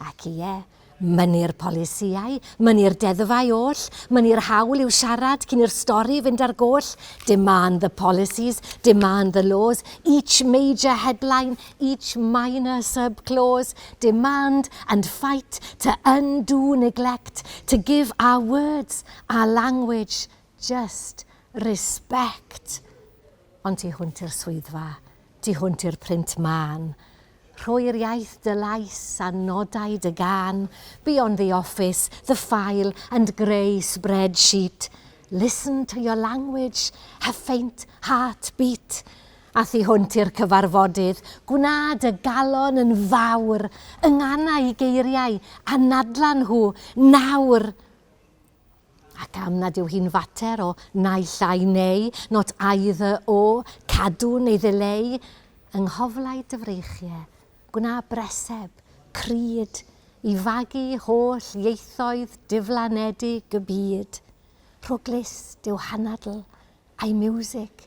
Ac ie, mynnu'r polisïau, mynnu'r deddfau oll, mynnu'r hawl i'w siarad cyn i'r stori fynd ar goll, demand the policies, demand the laws, each major headline, each minor sub-clause, demand and fight to undo neglect, to give our words, our language, just respect. Ond tu hwnt i'r swyddfa, Tu hwnt i'r print mân. Rhoi'r iaith dy lais a nodau dy gân Beyond the office, the file and grey spreadsheet Listen to your language, her faint heart beat A thu hwnt i'r cyfarfodydd, gwna dy galon yn fawr Yngana i geiriau, anadlan nhw nawr! Ac am nad yw hi'n fater o naill ai neu, not either or, cadw neu ddileu, yng nghoflau dy freichiau, gwna breseb, crud, i fagu holl ieithoedd diflanedig y byd. Rho glust yw hanadl, a'i miwsig,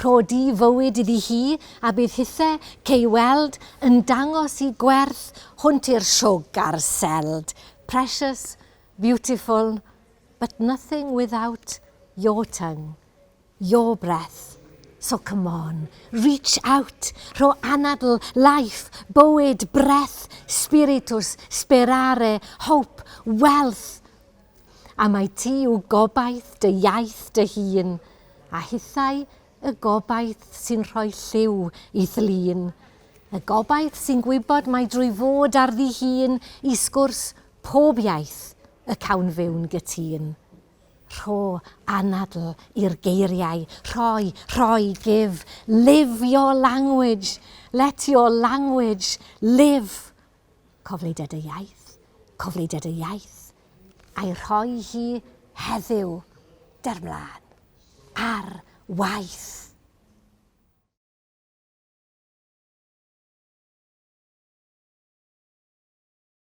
Rhodi fywyd iddi hi a bydd hithe cei weld yn dangos i gwerth hwnt i'r siwg a'r seld. Precious, beautiful, but nothing without your tongue, your breath, so come on, reach out, rho anadl, life, bywyd, breath, spiritus, sperare, hope, wealth, A mai ti yw gobaith dy iaith dy hun, a hithau y gobaith sy'n rhoi lliw i Thlun. Y gobaith sy'n gwybod mai drwy fod ar ddi hun i sgwrs pob iaith y cawn fyw'n gytun. Rho anadl i'r geiriau, rhoi, rhoi, give, live your language, let your language live Cofleidiad y iaith, cofleidiad y iaith, a'i rhoi hi heddiw, der mlân, ar waith!